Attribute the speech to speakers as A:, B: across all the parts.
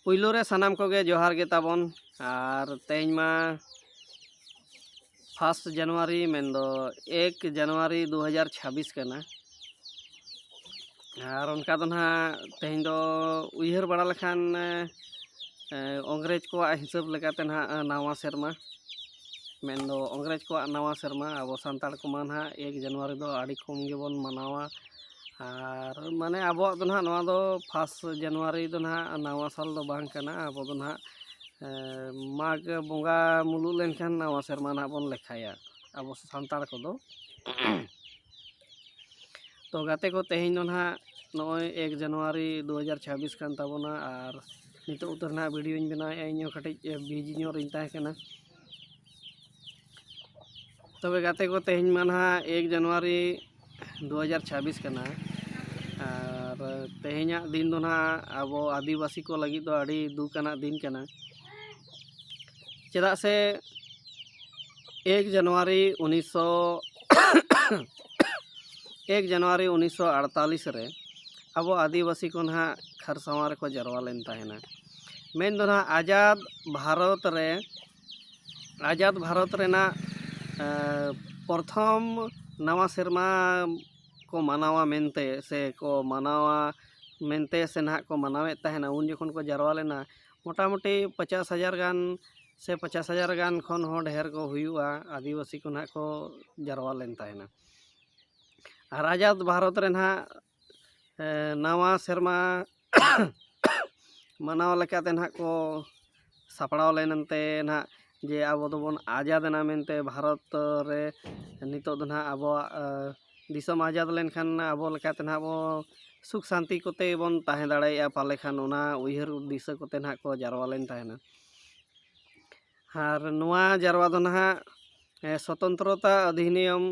A: ᱯᱩᱭᱞᱩ ᱨᱮ ᱥᱟᱱᱟᱢ ᱠᱚᱜᱮ ᱡᱚᱦᱟᱨ ᱜᱮ ᱛᱟᱵᱚᱱ ᱟᱨ ᱛᱮᱦᱮᱧ ᱢᱟ ᱯᱷᱟᱥᱴ ᱡᱟᱱᱩᱣᱟᱨᱤ ᱢᱮᱱᱫᱚ ᱮᱠ ᱡᱟᱱᱩᱣᱟᱨᱤ ᱫᱩ ᱦᱟᱡᱟᱨ ᱪᱷᱟᱵᱤᱥ ᱠᱟᱱᱟ ᱟᱨ ᱚᱱᱠᱟ ᱫᱚ ᱱᱟᱦᱟᱜ ᱛᱮᱦᱮᱧ ᱫᱚ ᱩᱭᱦᱟᱹᱨ ᱵᱟᱲᱟ ᱞᱮᱠᱷᱟᱱ ᱚᱝᱜᱽᱨᱮᱡᱽ ᱠᱚᱣᱟᱜ ᱦᱤᱥᱟᱹᱵ ᱞᱮᱠᱟᱛᱮ ᱱᱟᱦᱟᱜ ᱱᱟᱣᱟ ᱥᱮᱨᱢᱟ ᱢᱮᱱᱫᱚ ᱚᱝᱜᱽᱨᱮᱡᱽ ᱠᱚᱣᱟᱜ ᱱᱟᱣᱟ ᱥᱮᱨᱢᱟ ᱟᱵᱚ ᱥᱟᱱᱛᱟᱲ ᱠᱚᱢᱟ ᱱᱟᱦᱟᱜ ᱮᱠ ᱡᱟᱱᱩᱣᱟᱨᱤ ᱫᱚ ᱟᱹᱰᱤ ᱠᱚᱢ ᱜᱮᱵᱚᱱ ᱢᱟᱱᱟᱣᱟ ᱟᱨ ᱢᱟᱱᱮ ᱟᱵᱚᱣᱟᱜ ᱫᱚ ᱱᱟᱦᱟᱜ ᱱᱚᱣᱟ ᱫᱚ ᱯᱷᱟᱥ ᱡᱟᱱᱩᱣᱟᱨᱤ ᱫᱚ ᱱᱟᱦᱟᱜ ᱱᱟᱣᱟ ᱥᱟᱞ ᱫᱚ ᱵᱟᱝ ᱠᱟᱱᱟ ᱟᱵᱚ ᱫᱚ ᱱᱟᱦᱟᱜ ᱢᱟᱜᱽ ᱵᱚᱸᱜᱟ ᱢᱩᱞᱩᱜ ᱞᱮᱱᱠᱷᱟᱱ ᱱᱟᱣᱟ ᱥᱮᱨᱢᱟ ᱱᱟᱦᱟᱜ ᱵᱚᱱ ᱞᱮᱠᱷᱟᱭᱟ ᱟᱵᱚ ᱥᱟᱱᱛᱟᱲ ᱠᱚᱫᱚ ᱛᱚ ᱜᱟᱛᱮ ᱠᱚ ᱛᱮᱦᱮᱧ ᱫᱚ ᱱᱟᱦᱟᱜ ᱱᱚᱜᱼᱚᱭ ᱮᱠ ᱡᱟᱱᱩᱣᱟᱨᱤ ᱫᱩ ᱦᱟᱡᱟᱨ ᱪᱷᱟᱵᱵᱤᱥ ᱠᱟᱱ ᱛᱟᱵᱚᱱᱟ ᱟᱨ ᱱᱤᱛᱚᱜ ᱩᱛᱟᱹᱨ ᱱᱟᱦᱟᱜ ᱵᱷᱤᱰᱭᱳᱧ ᱵᱮᱱᱟᱣᱮᱫᱼᱟ ᱤᱧ ᱦᱚᱸ ᱠᱟᱹᱴᱤᱡ ᱵᱤᱡᱤ ᱧᱚᱜ ᱨᱤᱧ ᱛᱟᱦᱮᱸ ᱠᱟᱱᱟ ᱛᱚᱵᱮ ᱜᱟᱛᱮ ᱠᱚ ᱛᱮᱦᱮᱧ ᱢᱟ ᱱᱟᱦᱟᱜ ᱮᱠ ᱡᱟᱱᱩᱣᱟᱨᱤ ᱫᱩ ᱦᱟᱡᱟᱨ ᱪᱷᱟᱵᱽᱵᱤᱥ ᱠᱟᱱᱟ ᱟᱨ ᱛᱮᱦᱮᱧᱟᱜ ᱫᱤᱱ ᱫᱚ ᱱᱟᱦᱟᱜ ᱟᱵᱚ ᱟᱹᱫᱤᱵᱟᱹᱥᱤ ᱠᱚ ᱞᱟᱹᱜᱤᱫ ᱫᱚ ᱟᱹᱰᱤ ᱫᱩᱠ ᱟᱱᱟᱜ ᱫᱤᱱ ᱠᱟᱱᱟ ᱪᱮᱫᱟᱜ ᱥᱮ ᱮᱠ ᱡᱟᱱᱩᱣᱟᱨᱤ ᱩᱱᱤᱥᱥᱚ ᱮᱠ ᱡᱟᱱᱩᱣᱟᱨᱤ ᱩᱱᱤᱥᱥᱚ ᱟᱴᱛᱟᱞᱤᱥ ᱨᱮ ᱟᱵᱚ ᱟᱹᱫᱤᱵᱟᱹᱥᱤ ᱠᱚ ᱱᱟᱦᱟᱜ ᱠᱷᱟᱨᱥᱟᱣᱟ ᱨᱮᱠᱚ ᱡᱟᱨᱣᱟ ᱞᱮᱱ ᱛᱟᱦᱮᱱᱟ ᱢᱮᱱ ᱫᱚ ᱱᱟᱦᱟᱜ ᱟᱡᱟᱫᱽ ᱵᱷᱟᱨᱚᱛ ᱨᱮ ᱟᱡᱟᱫᱽ ᱵᱷᱟᱨᱚᱛ ᱨᱮᱱᱟᱜ ᱯᱨᱚᱛᱷᱚᱢ ᱱᱟᱣᱟ ᱥᱮᱨᱢᱟ ᱠᱚ ᱢᱟᱱᱟᱣᱟ ᱢᱮᱱᱛᱮ ᱥᱮ ᱠᱚ ᱢᱟᱱᱟᱣᱟ ᱢᱮᱱᱛᱮ ᱥᱮ ᱱᱟᱦᱟᱜ ᱠᱚ ᱢᱟᱱᱟᱣᱮᱫ ᱛᱟᱦᱮᱱᱟ ᱩᱱ ᱡᱚᱠᱷᱚᱱ ᱠᱚ ᱡᱟᱨᱣᱟ ᱞᱮᱱᱟ ᱢᱚᱴᱟᱢᱩᱴᱤ ᱯᱚᱪᱟᱥ ᱦᱟᱡᱟᱨ ᱜᱟᱱ ᱥᱮ ᱯᱚᱪᱟᱥ ᱦᱟᱡᱟᱨ ᱜᱟᱱ ᱠᱷᱚᱱ ᱦᱚᱸ ᱰᱷᱮᱨ ᱠᱚ ᱦᱩᱭᱩᱜᱼᱟ ᱟᱹᱫᱤᱵᱟᱹᱥᱤ ᱠᱚ ᱱᱟᱦᱟᱜ ᱠᱚ ᱡᱟᱨᱣᱟ ᱞᱮᱱ ᱛᱟᱦᱮᱱᱟ ᱟᱨ ᱟᱡᱟᱫᱽ ᱵᱷᱟᱨᱚᱛ ᱨᱮ ᱱᱟᱦᱟᱜ ᱱᱟᱣᱟ ᱥᱮᱨᱢᱟ ᱢᱟᱱᱟᱣ ᱞᱮᱠᱟᱛᱮ ᱱᱟᱦᱟᱜ ᱠᱚ ᱥᱟᱯᱲᱟᱣ ᱞᱮᱱ ᱮᱱᱛᱮ ᱱᱟᱦᱟᱜ ᱡᱮ ᱟᱵᱚ ᱫᱚᱵᱚᱱ ᱟᱡᱟᱫᱽ ᱮᱱᱟ ᱢᱮᱱᱛᱮ ᱵᱷᱟᱨᱚᱛ ᱨᱮ ᱱᱤᱛᱚᱜ ᱫᱚ ᱱᱟᱦᱟᱜ ᱟᱵᱚᱣᱟᱜ ᱫᱤᱥᱚᱢ ᱟᱡᱟᱫᱽ ᱞᱮᱱᱠᱷᱟᱱ ᱟᱵᱚ ᱞᱮᱠᱟᱛᱮ ᱱᱟᱦᱟᱜ ᱵᱚ ᱥᱩᱠ ᱥᱟᱱᱛᱤ ᱠᱚᱛᱮ ᱵᱚᱱ ᱛᱟᱦᱮᱸ ᱫᱟᱲᱮᱭᱟᱜᱼᱟ ᱯᱟᱞᱮ ᱠᱷᱟᱱ ᱚᱱᱟ ᱩᱭᱦᱟᱹᱨ ᱫᱤᱥᱟᱹ ᱠᱚᱛᱮ ᱱᱟᱦᱟᱜ ᱠᱚ ᱡᱟᱨᱣᱟ ᱞᱮᱱ ᱛᱟᱦᱮᱱᱟ ᱟᱨ ᱱᱚᱣᱟ ᱡᱟᱨᱣᱟ ᱫᱚ ᱱᱟᱦᱟᱜ ᱥᱚᱛᱚᱱᱛᱨᱚᱛᱟ ᱚᱫᱷᱤᱱᱤᱭᱚᱢ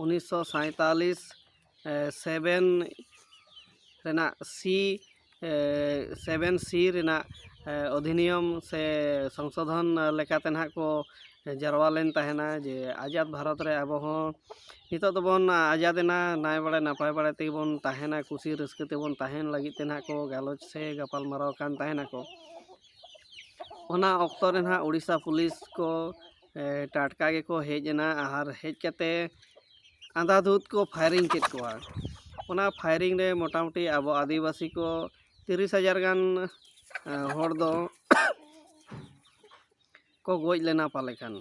A: ᱩᱱᱤᱥᱥᱚ ᱥᱟᱸᱭᱛᱟᱞᱞᱤᱥ ᱥᱮᱵᱷᱮᱱ ᱨᱮᱱᱟᱜ ᱥᱤ ᱥᱮᱵᱷᱮᱱ ᱥᱤ ᱨᱮᱱᱟᱜ ᱚᱫᱷᱤᱱᱤᱭᱚᱢ ᱥᱮ ᱥᱚᱝᱥᱳᱫᱷᱚᱱ ᱞᱮᱠᱟᱛᱮ ᱱᱟᱦᱟᱜ ᱠᱚ ᱡᱟᱨᱣᱟ ᱞᱮᱱ ᱛᱟᱦᱮᱱᱟ ᱡᱮ ᱟᱡᱟᱫᱽ ᱵᱷᱟᱨᱚᱛ ᱨᱮ ᱟᱵᱚ ᱦᱚᱸ ᱱᱤᱛᱚᱜ ᱫᱚᱵᱚᱱ ᱟᱡᱟᱫᱽ ᱮᱱᱟ ᱱᱟᱭ ᱵᱟᱲᱮ ᱱᱟᱯᱟᱭ ᱵᱟᱲᱮ ᱛᱮᱜᱮ ᱵᱚᱱ ᱛᱟᱦᱮᱱᱟ ᱠᱩᱥᱤ ᱨᱟᱹᱥᱠᱟᱹ ᱛᱮᱵᱚᱱ ᱛᱟᱦᱮᱱ ᱞᱟᱹᱜᱤᱫ ᱛᱮ ᱱᱟᱦᱟᱜ ᱠᱚ ᱜᱟᱞᱚᱪ ᱥᱮ ᱜᱟᱯᱟᱞᱢᱟᱨᱟᱣ ᱠᱟᱱ ᱛᱟᱦᱮᱱᱟᱠᱚ ᱚᱱᱟ ᱚᱠᱛᱚ ᱨᱮ ᱱᱟᱦᱟᱜ ᱳᱰᱤᱥᱟ ᱯᱩᱞᱤᱥ ᱠᱚ ᱴᱟᱴᱠᱟ ᱜᱮᱠᱚ ᱦᱮᱡ ᱮᱱᱟ ᱟᱨ ᱦᱮᱡ ᱠᱟᱛᱮᱫ ᱟᱸᱫᱷᱟᱫᱷᱩᱫᱽ ᱠᱚ ᱯᱷᱟᱭᱨᱤᱝ ᱠᱮᱫ ᱠᱚᱣᱟ ᱚᱱᱟ ᱯᱷᱟᱭᱨᱤᱝ ᱨᱮ ᱢᱚᱴᱟᱢᱩᱴᱤ ᱟᱵᱚ ᱟᱹᱫᱤᱵᱟᱹᱥᱤ ᱠᱚ ᱛᱤᱨᱤᱥ ᱦᱟᱡᱟᱨ ᱜᱟᱱ ᱦᱚᱲ ᱫᱚ ᱠᱚ ᱜᱚᱡ ᱞᱮᱱᱟ ᱯᱟᱞᱮ ᱠᱷᱟᱱ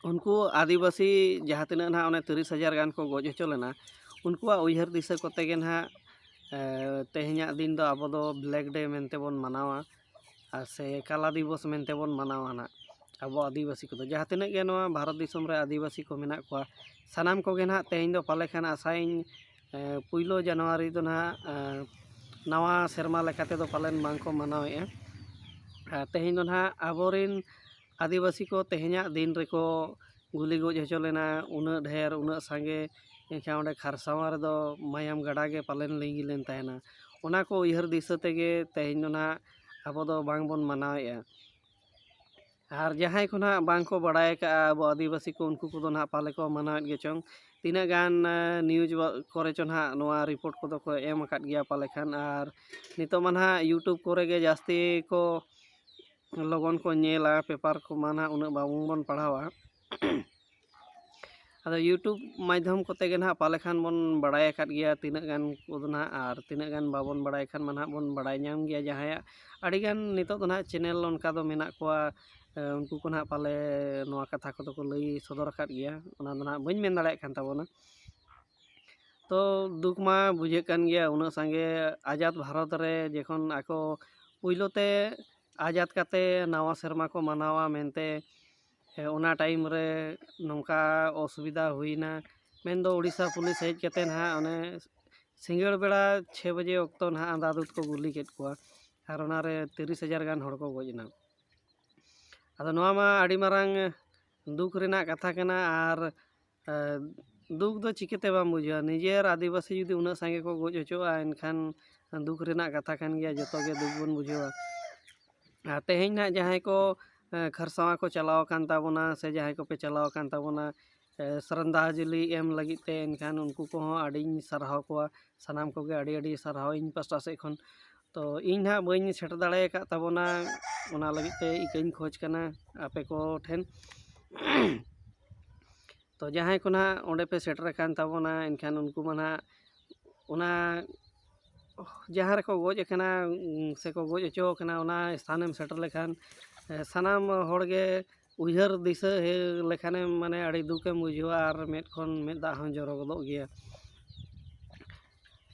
A: ᱩᱱᱠᱩ ᱟᱹᱫᱤᱵᱟᱹᱥᱤ ᱡᱟᱦᱟᱸ ᱛᱤᱱᱟᱹᱜ ᱱᱟᱦᱟᱜ ᱚᱱᱮ ᱛᱤᱨᱤᱥ ᱦᱟᱡᱟᱨ ᱜᱟᱱ ᱠᱚ ᱜᱚᱡ ᱦᱚᱪᱚ ᱞᱮᱱᱟ ᱩᱱᱠᱩᱣᱟᱜ ᱩᱭᱦᱟᱹᱨ ᱫᱤᱥᱟᱹ ᱠᱚᱛᱮ ᱜᱮ ᱱᱟᱦᱟᱜ ᱛᱮᱦᱮᱧᱟᱜ ᱫᱤᱱ ᱫᱚ ᱟᱵᱚ ᱫᱚ ᱵᱞᱮᱠ ᱰᱮ ᱢᱮᱱᱛᱮ ᱵᱚᱱ ᱢᱟᱱᱟᱣᱟ ᱟᱨ ᱥᱮ ᱠᱟᱞᱟ ᱫᱤᱵᱚᱥ ᱢᱮᱱᱛᱮ ᱵᱚᱱ ᱢᱟᱱᱟᱣᱟ ᱱᱟᱜ ᱟᱵᱚ ᱟᱹᱫᱤᱵᱟᱹᱥᱤ ᱠᱚᱫᱚ ᱡᱟᱦᱟᱸ ᱛᱤᱱᱟᱹᱜ ᱜᱮ ᱱᱚᱣᱟ ᱵᱷᱟᱨᱚᱛ ᱫᱤᱥᱚᱢ ᱨᱮ ᱟᱹᱫᱤᱵᱟᱹᱥᱤ ᱠᱚ ᱢᱮᱱᱟᱜ ᱠᱚᱣᱟ ᱥᱟᱱᱟᱢ ᱠᱚᱜᱮ ᱱᱟᱜ ᱛᱮᱦᱮᱧ ᱫᱚ ᱯᱟᱞᱮ ᱠᱷᱟᱱ ᱟᱥᱟᱭᱟᱹᱧ ᱯᱩᱭᱞᱩ ᱡᱟᱱᱩᱣᱟᱨᱤ ᱫᱚ ᱱᱟᱜ ᱱᱟᱣᱟ ᱥᱮᱨᱢᱟ ᱞᱮᱠᱟ ᱛᱮᱫᱚ ᱯᱟᱞᱮᱱ ᱵᱟᱝ ᱠᱚ ᱢᱟᱱᱟᱣᱮᱜᱼᱟ ᱟᱨ ᱛᱮᱦᱮᱧ ᱫᱚ ᱱᱟᱜ ᱟᱵᱚ ᱨᱮᱱ ᱟᱹᱫᱤᱵᱟᱹᱥᱤ ᱠᱚ ᱛᱮᱦᱮᱧᱟᱜ ᱫᱤᱱ ᱨᱮᱠᱚ ᱜᱩᱞᱤ ᱜᱚᱡ ᱦᱚᱪᱚ ᱞᱮᱱᱟ ᱩᱱᱟᱹᱜ ᱰᱷᱮᱨ ᱩᱱᱟᱹᱜ ᱥᱟᱸᱜᱮ ᱮᱱᱠᱷᱟᱱ ᱚᱸᱰᱮ ᱠᱷᱟᱨᱥᱟᱣᱟ ᱨᱮᱫᱚ ᱢᱟᱭᱟᱢ ᱜᱟᱰᱟ ᱜᱮ ᱯᱟᱞᱮᱱ ᱞᱤᱸᱜᱤ ᱞᱮᱱ ᱛᱟᱦᱮᱱᱟ ᱚᱱᱟ ᱠᱚ ᱩᱭᱦᱟᱹᱨ ᱫᱤᱥᱟᱹ ᱛᱮᱜᱮ ᱛᱮᱦᱮᱧ ᱫᱚ ᱱᱟᱦᱟᱜ ᱟᱵᱚ ᱫᱚ ᱵᱟᱝ ᱵᱚᱱ ᱢᱟᱱᱟᱣᱮᱜᱼᱟ ᱟᱨ ᱡᱟᱦᱟᱸᱭ ᱠᱚ ᱱᱟᱦᱟᱜ ᱵᱟᱝ ᱠᱚ ᱵᱟᱲᱟᱭ ᱠᱟᱜᱼᱟ ᱟᱵᱚ ᱟᱹᱫᱤᱵᱟᱹᱥᱤ ᱠᱚ ᱩᱱᱠᱩ ᱠᱚᱫᱚ ᱱᱟᱦᱟᱜ ᱯᱟᱞᱮ ᱠᱚ ᱢᱟᱱᱟᱣᱮᱫ ᱜᱮ ᱪᱚᱝ ᱛᱤᱱᱟᱹᱜ ᱜᱟᱱ ᱱᱤᱭᱩᱡᱽ ᱠᱚᱨᱮ ᱪᱚ ᱱᱟᱦᱟᱜ ᱱᱚᱣᱟ ᱨᱤᱯᱳᱨᱴ ᱠᱚᱫᱚ ᱠᱚ ᱮᱢ ᱟᱠᱟᱫ ᱜᱮᱭᱟ ᱯᱟᱞᱮ ᱠᱷᱟᱱ ᱟᱨ ᱱᱤᱛᱚᱜ ᱢᱟ ᱱᱟᱦᱟᱜ ᱤᱭᱩᱴᱩᱵᱽ ᱠᱚᱨᱮ ᱜᱮ ᱡᱟᱹᱥᱛᱤ ᱠᱚ ᱞᱚᱜᱚᱱ ᱠᱚ ᱧᱮᱞᱟ ᱯᱮᱯᱟᱨ ᱠᱚᱢᱟ ᱱᱟᱜ ᱩᱱᱟᱹᱜ ᱵᱟᱝᱵᱚᱱ ᱯᱟᱲᱦᱟᱣᱟ ᱟᱫᱚ ᱤᱭᱩᱴᱩᱵᱽ ᱢᱟᱫᱽᱫᱷᱚᱢ ᱠᱚᱛᱮ ᱜᱮ ᱱᱟᱜ ᱯᱟᱞᱮ ᱠᱷᱟᱱ ᱵᱚᱱ ᱵᱟᱲᱟᱭ ᱟᱠᱟᱫ ᱜᱮᱭᱟ ᱛᱤᱱᱟᱹᱜ ᱜᱟᱱ ᱠᱚᱫᱚ ᱱᱟᱜ ᱟᱨ ᱛᱤᱱᱟᱹᱜ ᱜᱟᱱ ᱵᱟᱵᱚᱱ ᱵᱟᱲᱟᱭ ᱠᱷᱟᱱ ᱢᱟ ᱱᱟᱜ ᱵᱚᱱ ᱵᱟᱲᱟᱭ ᱧᱟᱢ ᱜᱮᱭᱟ ᱡᱟᱦᱟᱸᱭᱟᱜ ᱟᱹᱰᱤ ᱜᱟᱱ ᱱᱤᱛᱚᱜ ᱫᱚ ᱱᱟᱜ ᱪᱮᱱᱮᱞ ᱚᱱᱠᱟ ᱫᱚ ᱢᱮᱱᱟᱜ ᱠᱚᱣᱟ ᱩᱱᱠᱩ ᱠᱚ ᱱᱟᱜ ᱯᱟᱞᱮ ᱱᱚᱣᱟ ᱠᱟᱛᱷᱟ ᱠᱚᱫᱚ ᱠᱚ ᱞᱟᱹᱭ ᱥᱚᱫᱚᱨ ᱟᱠᱟᱫ ᱜᱮᱭᱟ ᱚᱱᱟ ᱫᱚ ᱱᱟᱜ ᱵᱟᱹᱧ ᱢᱮᱱ ᱫᱟᱲᱮᱭᱟᱜ ᱠᱟᱱ ᱛᱟᱵᱚᱱᱟ ᱛᱚ ᱫᱩᱠ ᱢᱟ ᱵᱩᱡᱷᱟᱹᱜ ᱠᱟᱱ ᱜᱮᱭᱟ ᱩᱱᱟᱹᱜ ᱥᱟᱸᱜᱮ ᱟᱡᱟᱫ ᱵᱷᱟᱨᱚᱛ ᱨᱮ ᱡᱚᱠᱷᱚᱱ ᱟᱠᱚ ᱯᱳᱭᱞᱳ ᱛᱮ ᱟᱡᱟᱫ ᱠᱟᱛᱮ ᱱᱟᱣᱟ ᱥᱮᱨᱢᱟ ᱠᱚ ᱢᱟᱱᱟᱣᱟ ᱢᱮᱱᱛᱮ ᱚᱱᱟ ᱴᱟᱭᱤᱢ ᱨᱮ ᱱᱚᱝᱠᱟ ᱚᱥᱩᱵᱤᱫᱟ ᱦᱩᱭᱱᱟ ᱢᱮᱱ ᱫᱚ ᱳᱰᱤᱥᱟ ᱯᱩᱞᱤᱥ ᱦᱮᱡ ᱠᱟᱛᱮ ᱱᱟᱜ ᱚᱱᱮ ᱥᱤᱸᱜᱟᱹᱲ ᱵᱮᱲᱟ ᱪᱷᱮ ᱵᱟᱡᱮ ᱚᱠᱛᱚ ᱱᱟᱜ ᱟᱸᱫᱷᱟᱫᱷᱩᱱᱫ ᱠᱚ ᱜᱩᱞᱤ ᱠᱮᱫ ᱠᱚᱣᱟ ᱟᱨ ᱚᱱᱟ ᱨᱮ ᱛᱤᱨᱤᱥ ᱦᱟᱡᱟᱨ ᱜᱟᱱ ᱦᱚᱲ ᱠᱚ ᱜᱚᱡ ᱮᱱᱟ ᱟᱫᱚ ᱱᱚᱣᱟ ᱢᱟ ᱟᱹᱰᱤ ᱢᱟᱨᱟᱝ ᱫᱩᱠ ᱨᱮᱱᱟᱜ ᱠᱟᱛᱷᱟ ᱠᱟᱱᱟ ᱟᱨ ᱫᱩᱠ ᱫᱚ ᱪᱤᱠᱟᱹᱛᱮ ᱵᱟᱢ ᱵᱩᱡᱷᱟᱹᱣᱟ ᱱᱤᱡᱮᱨ ᱟᱹᱫᱤᱵᱟᱹᱥᱤ ᱡᱩᱫᱤ ᱩᱱᱟᱹᱜ ᱥᱟᱸᱜᱮ ᱠᱚ ᱜᱚᱡ ᱦᱚᱪᱚᱜᱼᱟ ᱮᱱᱠᱷᱟᱱ ᱫᱩᱠ ᱨᱮᱱᱟᱜ ᱠᱟᱛᱷᱟ ᱠᱟᱱ ᱜᱮᱭᱟ ᱡᱚᱛᱚ ᱜᱮ ᱫᱩᱠ ᱵᱚᱱ ᱵᱩᱡᱷᱟᱹᱣᱟ ᱟᱨ ᱛᱮᱦᱮᱧ ᱱᱟᱜ ᱡᱟᱦᱟᱸᱭ ᱠᱚ ᱠᱷᱟᱨᱥᱟᱣᱟ ᱠᱚ ᱪᱟᱞᱟᱣ ᱟᱠᱟᱱ ᱛᱟᱵᱚᱱᱟ ᱥᱮ ᱡᱟᱦᱟᱸᱭ ᱠᱚᱯᱮ ᱪᱟᱞᱟᱣ ᱟᱠᱟᱱ ᱛᱟᱵᱚᱱᱟ ᱥᱨᱟᱫᱷᱟᱡᱚᱞᱤ ᱮᱢ ᱞᱟᱹᱜᱤᱫ ᱛᱮ ᱮᱱᱠᱷᱟᱱ ᱩᱱᱠᱩ ᱠᱚᱦᱚᱸ ᱟᱹᱰᱤᱧ ᱥᱟᱨᱦᱟᱣ ᱠᱚᱣᱟ ᱥᱟᱱᱟᱢ ᱠᱚᱜᱮ ᱟᱹᱰᱤ ᱟᱹᱰᱤ ᱥᱟᱨᱦᱟᱣ ᱤᱧ ᱯᱟᱥᱴᱟ ᱥᱮᱫ ᱠᱷᱚᱱ ᱛᱚ ᱤᱧ ᱱᱟᱦᱟᱜ ᱵᱟᱹᱧ ᱥᱮᱴᱮᱨ ᱫᱟᱲᱮ ᱟᱠᱟᱫ ᱛᱟᱵᱚᱱᱟ ᱚᱱᱟ ᱞᱟᱹᱜᱤᱫ ᱛᱮ ᱤᱠᱟᱹᱧ ᱠᱷᱚᱡᱽ ᱠᱟᱱᱟ ᱟᱯᱮ ᱠᱚ ᱴᱷᱮᱱ ᱛᱚ ᱡᱟᱦᱟᱸᱭ ᱠᱚ ᱱᱟᱦᱟᱜ ᱚᱸᱰᱮ ᱯᱮ ᱥᱮᱴᱮᱨ ᱟᱠᱟᱱ ᱛᱟᱵᱚᱱᱟ ᱮᱱᱠᱷᱟᱱ ᱩᱱᱠᱩ ᱢᱟ ᱱᱟᱦᱟᱜ ᱚᱱᱟ ᱡᱟᱦᱟᱸ ᱨᱮᱠᱚ ᱜᱚᱡ ᱟᱠᱟᱱᱟ ᱥᱮᱠᱚ ᱜᱚᱡ ᱦᱚᱪᱚ ᱟᱠᱟᱱᱟ ᱚᱱᱟ ᱥᱛᱷᱟᱱᱮᱢ ᱥᱮᱴᱮᱨ ᱞᱮᱠᱷᱟᱱ ᱥᱟᱱᱟᱢ ᱦᱚᱲ ᱜᱮ ᱩᱭᱦᱟᱹᱨ ᱫᱤᱥᱟᱹ ᱞᱮᱠᱷᱟᱱᱮᱢ ᱢᱟᱱᱮ ᱟᱹᱰᱤ ᱫᱩᱠᱮᱢ ᱵᱩᱡᱷᱟᱹᱣᱟ ᱟᱨ ᱢᱮᱫ ᱠᱷᱚᱱ ᱢᱮᱫ ᱫᱟᱜ ᱦᱚᱸ ᱡᱚᱨᱚ ᱜᱚᱫᱚᱜ ᱜᱮᱭᱟ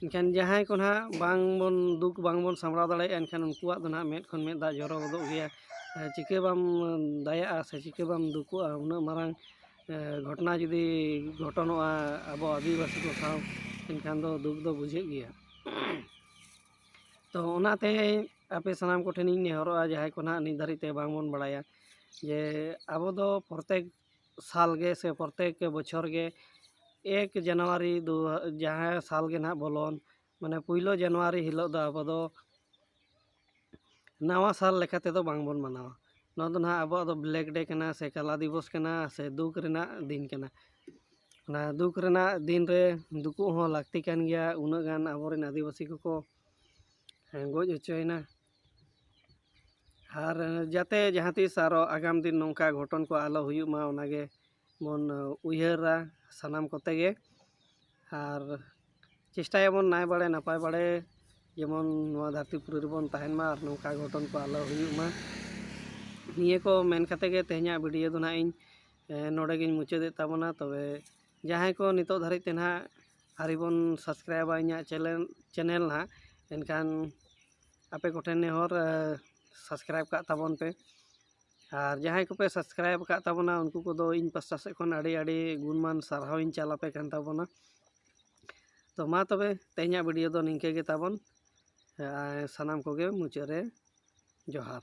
A: ᱮᱱᱠᱷᱟᱱ ᱡᱟᱦᱟᱸᱭ ᱠᱚ ᱱᱟᱦᱟᱜ ᱵᱟᱝ ᱵᱚᱱ ᱫᱩᱠ ᱵᱟᱝ ᱵᱚᱱ ᱥᱟᱢᱵᱽᱲᱟᱣ ᱫᱟᱲᱮᱭᱟᱜᱼᱟ ᱮᱱᱠᱷᱟᱱ ᱩᱱᱠᱩᱣᱟᱜ ᱫᱚ ᱱᱟᱦᱟᱜ ᱢᱮᱫ ᱠᱷᱚᱱ ᱢᱮᱫ ᱫᱟᱜ ᱡᱚᱨᱚ ᱜᱚᱫᱚᱜ ᱜᱮᱭᱟ ᱪᱤᱠᱟᱹ ᱵᱟᱢ ᱫᱟᱭᱟᱜᱼᱟ ᱥᱮ ᱪᱤᱠᱟᱹ ᱵᱟᱢ ᱫᱩᱠᱩᱜᱼᱟ ᱩᱱᱟᱹᱜ ᱢᱟᱨᱟᱝ ᱜᱷᱚᱴᱚᱱᱟ ᱡᱩᱫᱤ ᱜᱷᱚᱴᱚᱱᱚᱜᱼᱟ ᱟᱵᱚ ᱟᱹᱫᱤᱵᱟᱹᱥᱤ ᱠᱚ ᱥᱟᱶ ᱮᱱᱠᱷᱟᱱ ᱫᱚ ᱫᱩᱠ ᱫᱚ ᱵᱩᱡᱷᱟᱹᱜ ᱜᱮᱭᱟ ᱛᱚ ᱚᱱᱟᱛᱮ ᱟᱯᱮ ᱥᱟᱱᱟᱢ ᱠᱚᱴᱷᱮᱱᱤᱧ ᱱᱮᱦᱚᱨᱚᱜᱼᱟ ᱡᱟᱦᱟᱸᱭ ᱠᱚ ᱱᱟᱦᱟᱜ ᱱᱤᱛ ᱫᱷᱟᱹᱨᱤᱡ ᱛᱮ ᱵᱟᱝ ᱵᱚᱱ ᱵᱟᱲᱟᱭᱟ ᱡᱮ ᱟᱵᱚ ᱫᱚ ᱯᱨᱚᱛᱮᱠ ᱥᱟᱞ ᱜᱮ ᱥᱮ ᱯᱨᱚᱛᱛᱮᱠ ᱵᱚᱪᱷᱚᱨ ᱜᱮ ᱮᱠ ᱡᱟᱱᱩᱣᱟᱨᱤ ᱫᱩ ᱡᱟᱦᱟᱸ ᱥᱟᱞ ᱜᱮ ᱱᱟᱜ ᱵᱚᱞᱚᱱ ᱢᱟᱱᱮ ᱯᱩᱭᱞᱩ ᱡᱟᱱᱩᱣᱟᱨᱤ ᱦᱤᱞᱳᱜ ᱫᱚ ᱟᱵᱚ ᱫᱚ ᱱᱟᱣᱟ ᱥᱟᱞ ᱞᱮᱠᱟ ᱛᱮᱫᱚ ᱵᱟᱝ ᱵᱚᱱ ᱢᱟᱱᱟᱣᱟ ᱱᱚᱣᱟ ᱫᱚ ᱱᱟᱜ ᱟᱵᱚᱣᱟᱜ ᱫᱚ ᱵᱞᱮᱠ ᱰᱮ ᱠᱟᱱᱟ ᱥᱮ ᱠᱟᱞᱟ ᱫᱤᱵᱚᱥ ᱠᱟᱱᱟ ᱥᱮ ᱫᱩᱠ ᱨᱮᱱᱟᱜ ᱫᱤᱱ ᱠᱟᱱᱟ ᱚᱱᱟ ᱫᱩᱠ ᱨᱮᱱᱟᱜ ᱫᱤᱱ ᱨᱮ ᱫᱩᱠᱩᱜ ᱦᱚᱸ ᱞᱟᱹᱠᱛᱤ ᱠᱟᱱ ᱜᱮᱭᱟ ᱩᱱᱟᱹᱜ ᱜᱟᱱ ᱟᱵᱚ ᱨᱮᱱ ᱟᱹᱫᱤᱵᱟᱹᱥᱤ ᱠᱚᱠᱚ ᱜᱚᱡ ᱦᱚᱪᱚᱭᱮᱱᱟ ᱟᱨ ᱡᱟᱛᱮ ᱡᱟᱦᱟᱸ ᱛᱤᱥ ᱟᱨᱚ ᱟᱜᱟᱢ ᱫᱤᱱ ᱱᱚᱝᱠᱟ ᱜᱷᱚᱴᱚᱱ ᱠᱚ ᱟᱞᱚ ᱦᱩᱭᱩᱜ ᱢᱟ ᱚᱱᱟ ᱜᱮ ᱵᱚᱱ ᱩᱭᱦᱟᱹᱨᱟ ᱥᱟᱱᱟᱢ ᱠᱚᱛᱮ ᱜᱮ ᱟᱨ ᱪᱮᱥᱴᱟᱭᱟᱵᱚᱱ ᱱᱟᱭ ᱵᱟᱲᱮ ᱱᱟᱯᱟᱭ ᱵᱟᱲᱮ ᱡᱮᱢᱚᱱ ᱱᱚᱣᱟ ᱫᱷᱟᱹᱨᱛᱤ ᱯᱩᱨᱤ ᱨᱮᱵᱚᱱ ᱛᱟᱦᱮᱱ ᱢᱟ ᱟᱨ ᱱᱚᱝᱠᱟ ᱜᱷᱚᱴᱚᱱ ᱠᱚ ᱟᱞᱚ ᱦᱩᱭᱩᱜ ᱢᱟ ᱱᱤᱭᱟᱹ ᱠᱚ ᱢᱮᱱ ᱠᱟᱛᱮ ᱜᱮ ᱛᱮᱦᱮᱧᱟᱜ ᱵᱷᱤᱰᱤᱭᱳ ᱫᱚ ᱱᱟᱦᱟᱜ ᱤᱧ ᱱᱚᱰᱮ ᱜᱤᱧ ᱢᱩᱪᱟᱹᱫᱮᱫ ᱛᱟᱵᱚᱱᱟ ᱛᱚᱵᱮ ᱡᱟᱦᱟᱸᱭ ᱠᱚ ᱱᱤᱛᱚᱜ ᱫᱷᱟᱹᱨᱤᱡ ᱛᱮ ᱱᱟᱦᱟᱜ ᱟᱹᱣᱨᱤ ᱵᱚᱱ ᱥᱟᱵᱥᱠᱨᱟᱭᱤᱵᱟ ᱤᱧᱟᱹᱜ ᱪᱮᱱᱮᱞ ᱪᱮᱱᱮᱞ ᱱᱟᱦᱟᱜ ᱮᱱᱠᱷᱟᱱ ᱟᱯᱮ ᱠᱚᱴᱷᱮᱱ ᱱᱮᱦᱚᱨ ᱥᱟᱵᱥᱠᱨᱟᱭᱤᱵᱽ ᱠᱟᱜ ᱛᱟᱵᱚᱱ ᱯᱮ ᱟᱨ ᱡᱟᱦᱟᱸᱭ ᱠᱚᱯᱮ ᱥᱟᱵᱥᱠᱨᱟᱭᱤᱵᱽ ᱠᱟᱜ ᱛᱟᱵᱚᱱᱟ ᱩᱱᱠᱩ ᱠᱚᱫᱚ ᱤᱧ ᱯᱟᱥᱴᱟ ᱥᱮᱫ ᱠᱷᱚᱱ ᱟᱹᱰᱤ ᱟᱹᱰᱤ ᱜᱩᱱᱢᱟᱱ ᱥᱟᱨᱦᱟᱣ ᱤᱧ ᱪᱟᱞ ᱟᱯᱮ ᱠᱟᱱ ᱛᱟᱵᱚᱱᱟ ᱛᱚ ᱢᱟ ᱛᱚᱵᱮ ᱛᱮᱦᱮᱧᱟᱜ ᱵᱷᱤᱰᱤᱭᱳ ᱫᱚ ᱱᱤᱝᱠᱟᱹ ᱜᱮ ᱛᱟᱵᱚᱱ ᱥᱟᱱᱟᱢ ᱠᱚᱜᱮ ᱢᱩᱪᱟᱹᱫ ᱨᱮ ᱡᱚᱦᱟᱨ